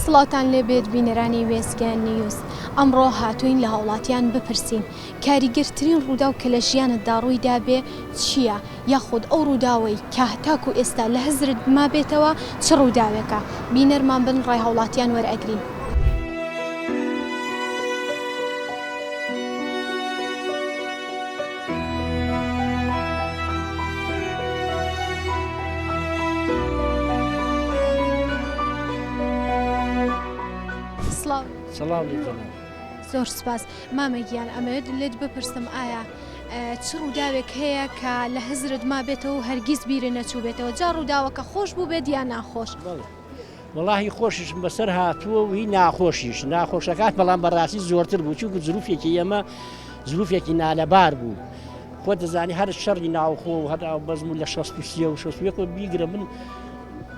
سڵاوتان لێ بێت بینەرانی وێستگە نیوز ئەمڕۆ هاتوین لە هاوڵاتیان بپرسین کاریگەرترین ڕووداو کە لە ژیانتدا ڕوویدا بێ چییە؟ یاخود ئەو ڕووداوەی کە تاکو ئێستا لە هزرت مابێتەوە چ ڕووداوێکە؟ بینەرمان بن ڕای هاوڵاتیان وەرئەگرین. سڵاو. سڵاو لێبێ. زۆر سوپاس مامە گیان ئەمەوێت لێت بپرسم ئایا چ ڕووداوێک هەیە کە لە هزرت ما بێتەوە و هەرگیز بیرە نەچوو بێتەوە جا ڕووداوەکە خۆش بوو بێت یان ناخۆش وڵی خۆشیشم بەسەر هاتووە وی ناخۆشیش ناخۆشەکان بەڵام بەڕاستی زۆرتر بوو چونکو زروفێکی ئێمە زروفێکی نالەبار بوو. خۆ دەزانی هەر شەڕی ناوخۆ و هەر بەزم و لە 16 و 16 بیگرە من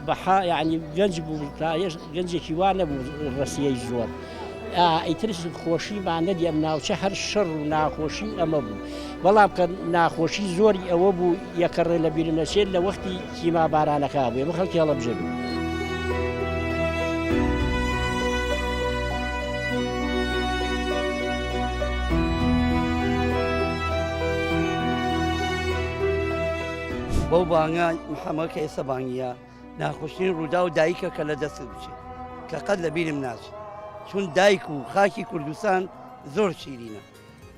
بەها یعنی گەنج بوو تا یش گەنجێکی وا نەبوو ڕسیەی زۆر ئیتر خۆشی با نەدی ئەم ناوچە هەر شەڕ و ناخۆشی ئەمە بوو بەڵام کە ناخۆشی زۆری ئەوە بوو یەکەڕێ لە بیرنەچێت لە وەختی کیما بارانەکە بێ بە خەڵکی هەڵەبژێ بوو. بەو بانگە محەمەد کە ئێستا بانگیە ناخۆشترین ڕوودا و دایکە کە لە دەست بچێت کە قەت لە بیرم ناچێت چون دایک و خاکی کوردستان زۆر شیرینە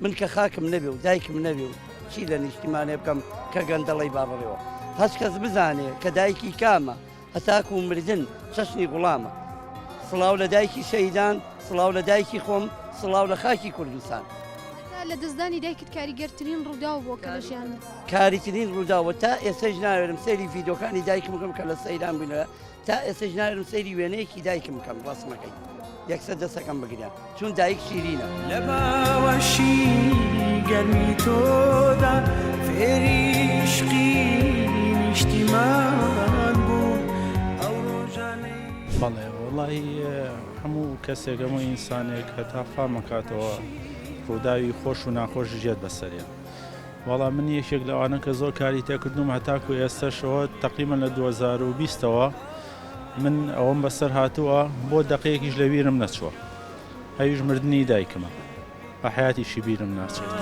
من کە خاکم نەبێ و دایکم نەبێ و چی لە نیشتیمانێ بکەم کە گەندەڵی بابڕێەوە هەست کەس بزانێ کە دایکی کامە هەتاکوو مردن چەشنی گوڵامە. سڵاو لە دایکی شەهیدان، سڵاو لە دایکی خۆم، سڵاو لە خاکی کوردستان. هەتا لە دەستدانی دایکت کاریگەرترین ڕووداو بووە کە لە ژیانت دیتە؟ کاریترین ڕووداو و تا ئێستەش ناوێرم سەیری ڤیدۆکانی دایکم بکەم کە لە سەیران بووینەوە تا ئێستەش ناوێرم سەیری وێنەیەکی دایکم بکەم ڕەسمەکەی یەکسەر دەستەکەم بگریان. چون دایک شیرینە. لە باوەشی گەرمی تۆدا فێری عیشقی نیشتیمان بووم ئەو ڕۆژانەی. بەڵێ وەڵایی هەموو کەسێک هەموو ئینسانێک هەتا فام ئەکاتەوە ڕووداوی خۆش و ناخۆشیش یەت بەسەریا وەڵا من یەکێک لەوانە کە زۆر کاری تێکردووم هەتاکو ئێستەشەوە تەقریبەن لە دوو هەزار و بیستەوە من ئەوەم بەسەر هاتووە بۆ دەقەیەکیش لە ویرم نەچووە ئەویش مردنی دایکمە بە حیاتیشی بیرم ناچێت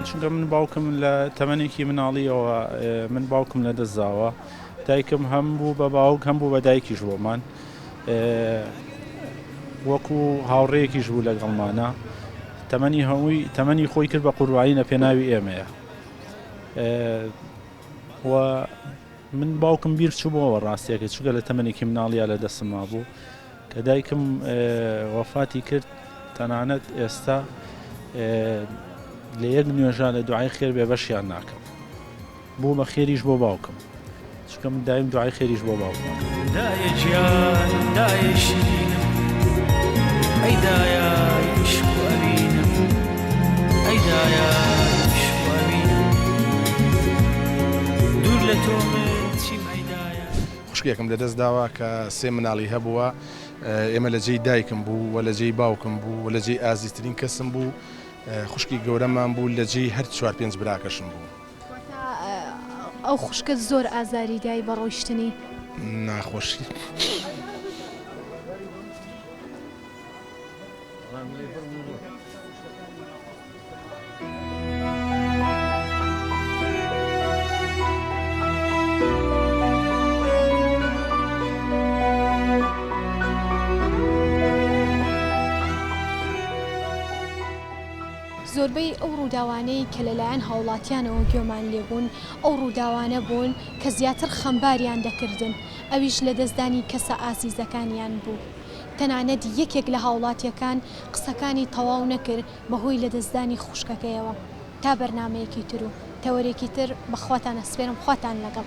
چونکە من باوکم لە تەمەێکی مناڵیەوە من باوکم لە دەستزاوە دایکم هەم بوو بە باوک هەم بوو بە دایکیش بۆمان وەکو هاوڕێکیش بوو لەگەڵمانە تەمەنی هەمووی تەمەنی خۆی کرد بە قوربایی لە پێناوی ئێمەیە و من باوکم بیر چوبەوە ڕاستیەکە چگە لە تەمەێکی مناڵیا لە دەسم مابوو کە دایکم وەفاتی کرد تەنانەت ئێستا لە یەک نوێژە لە دوعای خێر بێ بەشیان ناکەم بۆ بە خێریش بۆ باوکم چونکە من دایم دوعای خێریش بۆ باوکمە. دایە گیان دایە شیرینم ئەی دایە عیشق و ئەوینم ئەی دایە عیشق و ئەوینم دوور لە تۆ من چیم ئەی دایە. خوشکێکم لەدەست داوە کە سێ مناڵی هەبووە، ئێمە لە جێی دایکم بوو و لە جێی باوکم بوو و لە جێی ئازیزترین کەسم بوو، خوشکی گەورەمان بوو لە جێی هەر چوار پێنج براکەشم بوو. واتە ئەو خوشکەت زۆر ئازاری دای بە ڕۆیشتنی؟ ناخۆشی. زۆربەی ئەو ڕووداوانەی کە لەلایەن هاوڵاتیانەوە گوێمان لێبوون ئەو ڕووداوانە بوون کە زیاتر خەمباریان دەکردن ئەویش لەدەستدانی کەسە ئازیزەکانیان بوو تەنانەت یەکێک لە هاوڵاتیەکان قسەکانی تەواو نەکرد بەهۆی لەدەستدانی خوشکەکەیەوە تا بەرنامەیەکی ترو تەوەرێکی تر بە خواتان ئەسپێرم خواتان لەگەڵ.